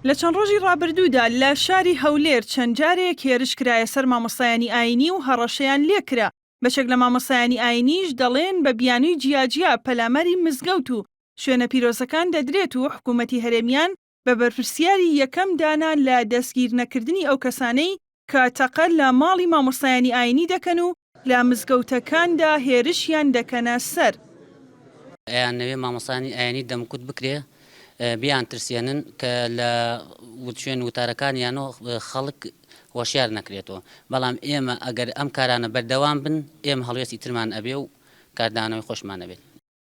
لە چەند ڕۆژی ڕابردوودا لە شاری هەولێر چەند جارێک هێرش کرایە سەر مامۆستایانی ئاینی و هەڕەشەیان لێکرا، بەشێک لە مامۆستایانی ئاینیش دەڵێن بە بیانووی جیاجیا پەلاماری مزگەوت و شوێنە پیرۆزەکان دەدرێت و حکوومەتی هەرێمیان بە بەرپرسیاری یەکەم دانا لە دەستگیرنەکردنی ئەو کەسانەی کە تەقە لە ماڵی مامۆستایانی ئاینی دەکەن و لە مزگەوتەکاندا هێرشیان دەکەنە سەر. ئەیانەوێ مامۆستایانی ئاینی دەمکوت بکرێ بیانترسێنن کە لە شوێن وتارەکانیانەوە خەڵک هۆشیار نەکرێتەوە، بەڵام ئێمە ئەگەر ئەم کارانە بەردەوام بن ئێمە هەڵوێستی ترمان ئەبێ و کاردانەوەی خۆشمان ئەبێت.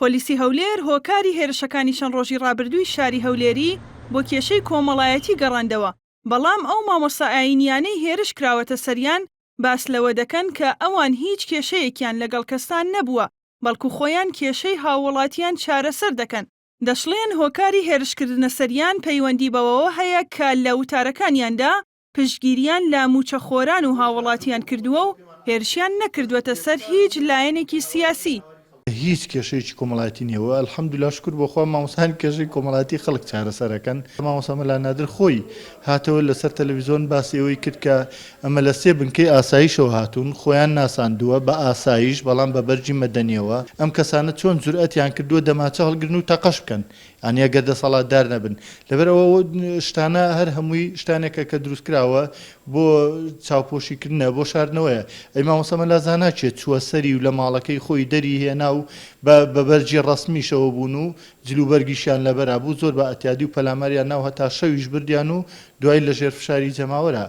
پۆلیسی هەولێر هۆکاری هێرشەکانی چەند ڕۆژی ڕابردووی شاری هەولێری بۆ کێشەی کۆمەڵایەتی گەڕاندەوە، بەڵام ئەو مامۆستا ئایینییانەی هێرش کراوەتە سەریان باس لەوە دەکەن کە ئەوان هیچ کێشەیەکیان لەگەڵ کەستان نەبووە، بەڵکو خۆیان کێشەی هاووڵاتیان چارەسەر دەکەن. دەشڵێن هۆکاری هێرشکردنە سەریان پەیوەندی بەوەوە هەیە کە لە وتارەکانیاندا پشتگیرییان لە مووچەخۆران و هاووڵاتییان کردووە و هێرشیان نەکردووەتە سەر هیچ لایەنێکی سیاسی. هیچ کێشەیەکی کۆمەڵایەتی نییە و الحمدللە شوکر بۆ خوا مامۆستایان کێشەی کۆمەڵایەتی خەڵک چارەسەر ئەکەن. مامۆستا مەلا نادر خۆی هاتەوە لە سەر تەلەڤیزۆن باسی ئەوەی کرد کە ئەمە لە سێ بنکەی ئاسایشەوە هاتوون، خۆیان ناساندووە بە ئاسایش بەڵام بە بەرگی مەدەنییەوە. ئەم کەسانە چۆن جورئەتیان کردووە دەمانچە هەڵگرن و تەقەش بکەن؟ یانی ئەگەر دەسەڵاتدار نەبن. لەبەر ئەوە ئەو شتانە هەر هەمووی شتانێکە کە دروست کراوە بۆ چاوپۆشی کردنە بۆ شاردنەوەیە ئەی مامۆستا مەلا زانا کێ چووە سەری و لە ماڵەکەی خۆی دەری هێنا و بە بە بەرگی ڕەسمیشەوە بوون و جل و بەرگیشیان لەبەرا بوو زۆر بە ئەتیادی و پەلاماریان ناو هەتا شەویش بردیان و دوای لە ژێر فشاری جەماوەرا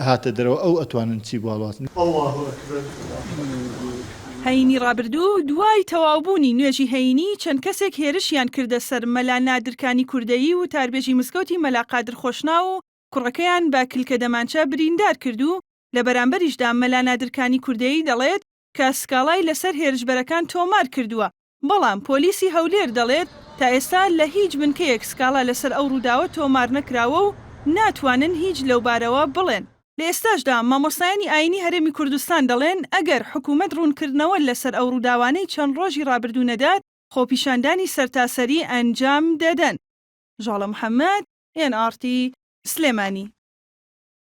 هاتە دەرەوە ئەو ئەتوانن چی بوالوازن. اللە اکبر اللە. هەینی ڕابردوو دوای تەواو بوونی نوێژی هەینی چەند کەسێک هێرشیان کردە سەر مەلا نادر کانی کوردەیی وتاربێژی مزگەوتی مەلا قادر خۆشناو و کوڕەکەیان بە کلکە دەمانچە بریندار کرد و لە بەرامبەریشدا مەلا نادر کانی کوردەیی دەڵێت کە سکاڵای لەسەر هێرشبەرەکان تۆمار کردووە، بەڵام پۆلیسی هەولێر دەڵێت، تا ئێستا لە هیچ بنکەیەک سکاڵا لەسەر ئەو رووداوە تۆمار نەکراوە و ناتوانن هیچ لەوبارەوە بڵێن. لە ئێستاشدا مامۆستایانی ئایینی هەرێمی کوردستان دەڵێن، ئەگەر حکومەت روونکردنەوە لەسەر ئەو رووداوانەی چەند رۆژی رابردوو نەدات، خۆپیشاندانی سەرتاسەری ئەنجام دەدەن. ژاڵە محەمەد، ئێن ئاڕ تی، سلێمانی.